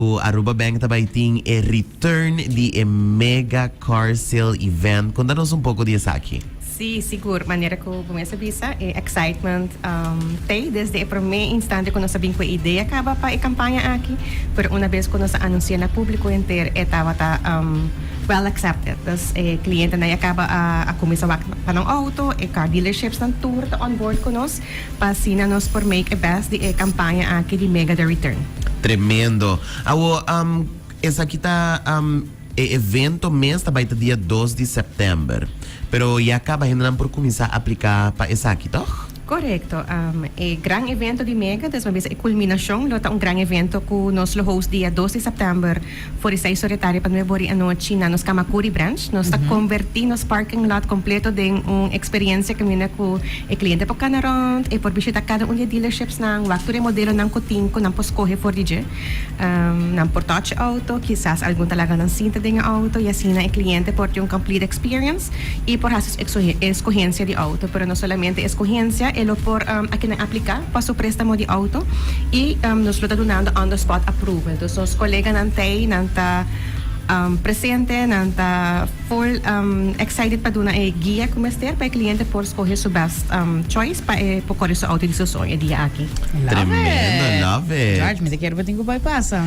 Cu Aruba Bank ta bay tin e return di e mega car sale event. Conta nos un poco di esaki. Sí, sigur. Manera cu bo mes a bisa, e excitement t'ey desde e prome instante cu nos a bin cu e idea caba pa e campaña aki. Pero una bes cu nos a anunci'e na publico henter, e tabata well accepted. Dus e clientenan ya caba a cuminsa wak pa nan auto, e car dealerships nan tur ta onboard cu nos. Pa asina nos por make e best di e campaña aki di Mega The Return. Tremendo. Awo, am, esaki ta, am, e evento mes ta bai ta dia dos di september. Pero ya caba hendenan por cuminsa aplica pa esaki, toch? Correcto. Am, e gran evento di Mega, despues men bisa e culminacion, lo ta un gran evento cu nos lo host dia dos di september. For esei Soretaria pa nueve ori anochi na nos Kamakuri Branch. Nos ta konvertí nos parking lot kompleto den un eksperiencia kaminda ku e kliente por kana rònt, e por bishitá kada un di e dealerships-nan, wak tur e modelonan ku tin ku nan por skohe for di dje. Nan por touch e outo, kisas algun ta laga nan sinta den e outo, i asina e kliente por tin un complete experience i por hasi su eskohencia di outo. Pero no solamente eskohencia, e lo por aki nan apliká. pa su préstamo di auto i nos lo ta dunando on the spot approval. Dus nos koleganan t'ei, nan ta presente, nan ta full excited pa duna e guia ku mester pa e kliente por skohe su bèst choice pa e por kòre su auto di su soño e dia aki. Tremendo, love it. George, mi ta kere pa tin ku bai pasa.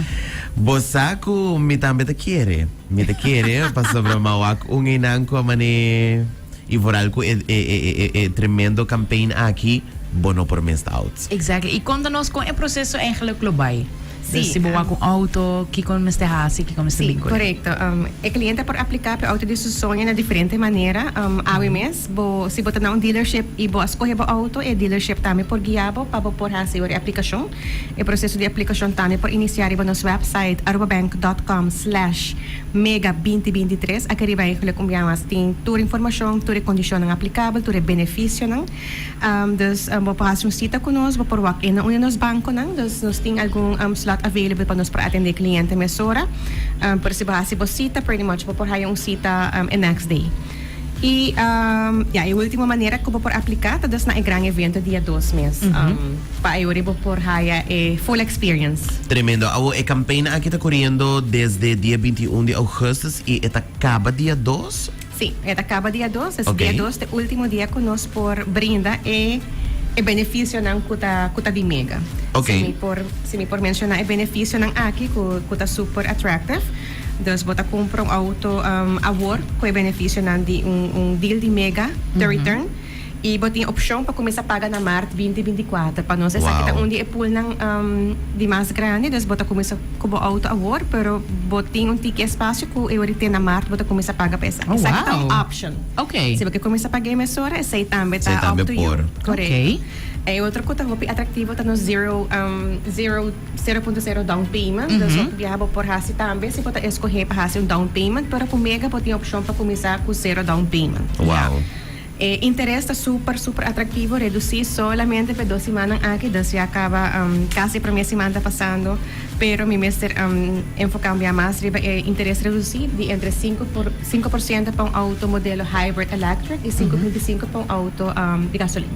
Bo sa ku mi tambe ta kere. Mi ta kere, pasobra mawak un einan ku a manera. y vooral cu e e e e tremendo campaign aki bo no por mest out. Exactly. Y conta nos con e proceso eigenlijk lo bay. Dus si bo wak un auto, kico mester haci, kico mester bin cu e? Sí, correcto. E cliente por aplica pa e auto di su soño na diferente manera. Awe mes, bo, si bo ta na un dealership y bo a scoge bo auto, e dealership tambe por guia bo pa bo por haci ora e aplicacion. E proseso di aplikashon tambe por inisiá riba nos wèpsait arubabank dòt kòm slèsh mega binti binti tres. Aki riba ei ku lo kumbiá mas tin tur informashon, tur e kondishonnan aplikabel, tur e benefisionan. Dus bo por hasi un sita ku nos, bo por wak enda un di nos bankonan. Dus nos tin algun slòt available pa nos por atendé kliente mesora. Pero si bo hasi bo sita, pretty much bo por haya un sita e next day. Y ya, e ultimo manera cu bo por aplica ta dus na e gran evento dia dos mes. Pa ayuri bo por haya e full experience. Tremendo. Awor, e campaina aki ta coriendo desde dia binti i un di augustus y e ta caba dia dos? Si, e ta caba dia dos. Oké. Dia dos ta e ultimo dia cu nos por brinda e e beneficionan cu ta cu ta di mega. Oké. Si mi por si mi por menciona e beneficionan aki cu cu ta super attractive, Dus bo ta cumpra un auto awor cu e beneficionan di un deal di mega te return y bo tin opcion pa cuminsa paga na maart binti binti y cuatro. Pa nos esaki ta un di e poolnan di mas grandi, dus bo ta cuminsa cu bo auto awor, pero bo tin un tiki espacio cu e ora te na maart bo ta cuminsa paga pa esaki. Esaki ta un option. Si bo ke cuminsa paga e mesora, esey tambe ta up to you. Correcto. E otro cu ta hopi atractivo ta nos zero zero. Sero punto sero down payment, den so biaha bo por hasi tambe si bo ta eskohé pa hasi un down payment, pero ku mega bo tin opshon pa kuminsá ku sero down payment. Wow. E interes ta super super atraktivo, redusí solamente p'e dos simannan aki, dus ya kaba kasi e promé siman ta pasando, pero mi mester enfokáme biaha mas riba e interes redusí di entre sinku por sinku por siento pa un outo modelo hybrid electric i sinku punto sinku pa un outo di gasolina.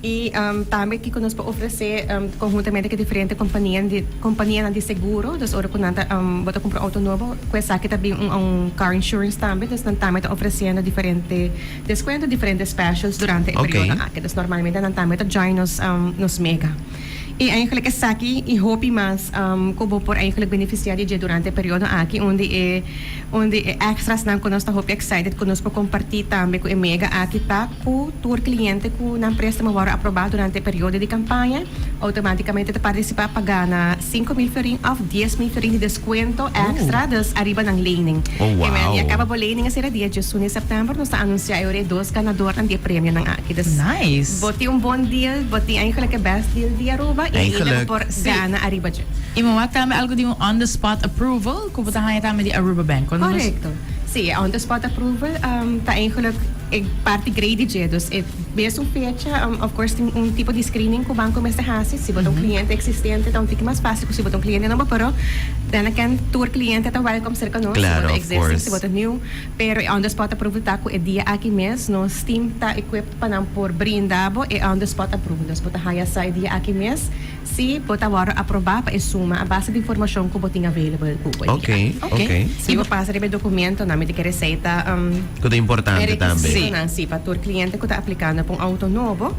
I tambe kico nos por ofrece conhuntamente cu e diferente companianan di seguro. Dus ora cu nan ta bo ta cumpra un auto nobo cu esaki ta bin un car insurance tambe. Dus nan tambe ta ofreciendo diferente descuento, diferente specials durante e periodo aki. Dus normalmente nan tambe ta join nos mega. I eigenlijk esaki y hopi mas cu bo por eigenlijk beneficia di dje durante e periodo aki unda e. Un di e extrasnan ku nos ta hopi excited ku nos por kompartí tambe ku e mega aki ta ku tur kliente ku nan préstamo wòrdu aprobá durante e periodo di kampaña outomátikamente ta partisipá pa gana sinku mil fiorin òf dies mil fiorin di deskuento ekstra dus ariba nan lening. E mega aki a kaba bo lening esei dia dies un di sèptèmber. Nos ta anunsiá e ora e dos ganadornan di e premionan aki. Dus bo tin un bon deal, bo tin eindelijk e bèst deal di Aruba i ainda bo por gana ariba dje. I moa tambe algu di un on the spot approval. Cu bo ta haña tambe di Aruba Bank? Cuando nos. Correcto. Sí, e Under Spot Approval ta eigenlijk e parti grady dje. Dus e mes un fecha, of course, tin un tipo di screening cu banco mester haci. Si bo ta un cliente existente ta un tiki mas fácil cu si bo ta un cliente nobo, pero den a can tur cliente ta welcome cerca nos, si bo ta existing, si bo ta nieuw. Pero e Under Spot Approval ta cu e dia aki mes nos team ta equipped pa nan por brinda bo e Under Spot Approval. Dus bo ta haña sa e dia aki mes. Sí, bo ta wòrdu aprobá pa e suma a base di informashon ku bo tin available ku bo dia. Oké, si bo pasa riba e dokumentonan mi ta kere sei ta Ku ta importante tambe. e rekisitonan, sí, pa tur kliente ku ta aplikando pa un outo nobo.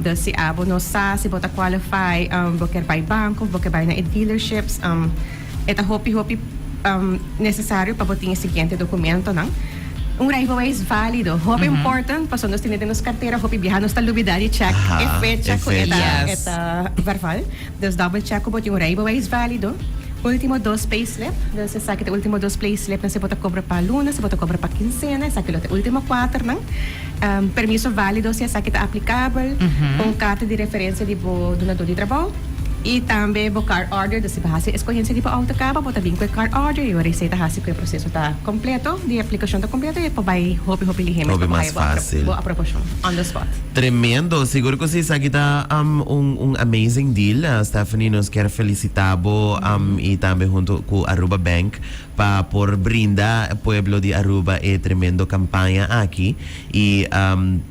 Dus si abo no sa si bo ta kwalifai, bo kèr bai banko of bo kèr bai na e dealerships, E ta hopi hopi necesario pa bo tin e siguiente documentonan. Un rijbeweis válido, hopi important, pasobra nos tene den nos cartera hopi biaha, nos ta lubida di check e fecha cu e ta verval. Dus double check cu bo tin un rijbeweis válido. Ultimo dos payslip, dus esaki ta ultimo dos playslipnan si bo ta cobra pa luna, si bo ta cobra pa kinsena, esaki lo ta ultimo cuaternan. Permiso válido si esaki ta aplikabel pa un karta di referensia di bo dunadó di trabou i tambe bo car order. Dus si bo hasi eskohensha di bo outo kaba, bo ta bini ku e car order i ora esei ta hasi ku e proseso ta kompleto, di aplikashon ta kompleto, e por bai hopi hopi lihémes pa bo haya bo aprobashon on the spot. Tremendo! Sigur ku si esaki ta un amazing deal. Stephanie, nos kier felisitá bo i tambe huntu ku Aruba Bank pa por brinda e pueblo di Aruba e tremendo campaña aki. Y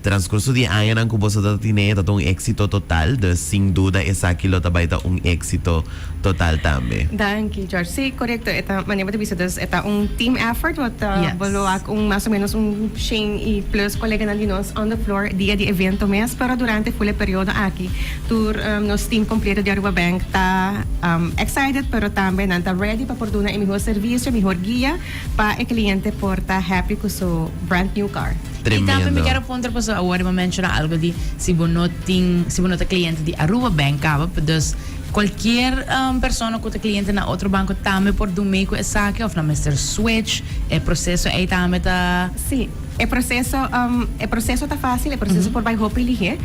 transcurso di e añanan cu boso ta tine ta un éxito total, dus sin duda esaki lo ta bay ta un éxito total tambe. Danki George. Sí, corecto. E ta, manera bo ta bisa, dus e ta un team effort wat bo lo hac un mas o menos un shen y plus coleganan di nos on the floor dia di evento mes, pero durante e cule periodo aki. Tur nos team completo di Aruba Bank ta excited pero tambe nan ta ready pa por duna e mihor servicio, mihor guia pa e cliente por ta happy cu su brand new car. Y tambe mi quiero puntra paso awor ri bo menciona algo di si bo no tin, si bo no ta cliente di Aruba Bank caba, dus cualkier persona cu ta cliente na otro banco tambe por dun mee cu esaki of nan mester switch? E proceso ey tambe ta. Sí. E proseso e proseso ta fácil, e proseso por bai hopi lihe.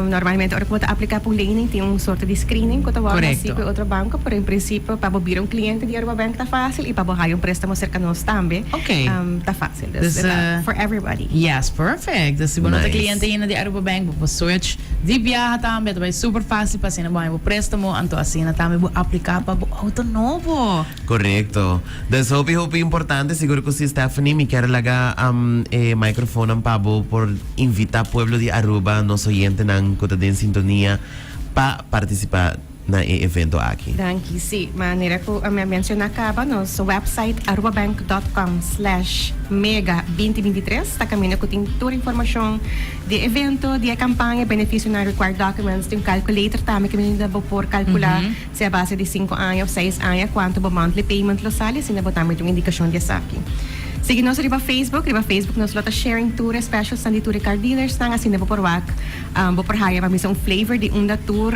Normalmente ora ku bo ta apliká pa un lening tin un sorto di screening ku ta wòrdu hasi ku e otro banko, pero en prinsipio pa bo bira un kliente di Arubabank ta fácil i pa bo haya un préstamo serka nos tambe ta fácil. Dus ta for everybody. Yes, perfect. Dus si bo no ta kliente ainda di Arubabank, bo por switch di biaha tambe. Ta bai súper fácil pa asina bo haña bo préstamo, anto asina tambe bo apliká pa bo outo nobo. Korekto. Des hopi hopi importante, sigur cu si Stephanie mi kier laga e microfonan pa bo por invita pueblo di Aruba, nos oyentenan cu ta den sintonia pa participa na e evento aki. Danki, si, manera cu mi a menciona caba nos website arubabank.com slash mega binti binti tres ta caminda cu tin tur informacion di e evento, di e campaña, beneficionan, required documents, tin un calculator tambe cu mi mester bo por calcula. sea base di sinku aña of seis aña, cuanto bo monthly payment lo sali, asina bo ta mete un indicacion di esaki. Sigui nos riba Facebook, riba Facebook nos lo ta sharing tur e specials nan di tur e car dealers nan, asina bo por wak, bo por haya pa bisa un flavor di unda tur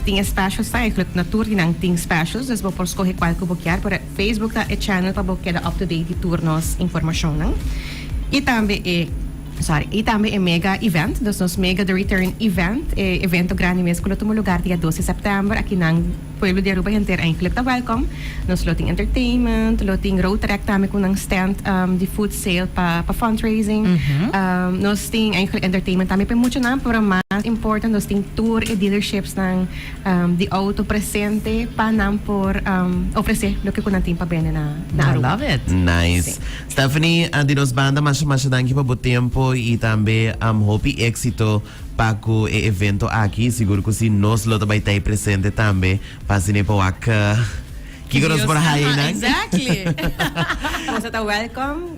tin e specials nan, eglui na tur di nan tin specials, dus bo por scoge cual cu bo kier, pero Facebook ta e channel pa bo keda up to date di tur nos informacion nan. Y tambe e. Sa i tambe e mega event, dus nos mega the return event, e evento grandi mes ku lo tuma lugar dia dos di sèptèmber, aki nan pueblo di Aruba henter eindelijk ta wèlkòm. Nos lo tin entertainment, lo tin road track tambe ku nan stand di food sale pa pa fundraising. Nos tin eindelijk entertainment tambe p'e muchu nan, pero mas important nos tin tur e dealerships-nan di outo presente pa nan por ofresé loke ku nan tin pa bende na Aruba. Nice. Stephanie di nos banda masha masha danki pa bo tempo y tambe hopi exito pa cu e evento aki, sigur cu si nos lo ta bay tay presente tambe pa asina e powak kico nos por haye nan. Nos a ta welcome.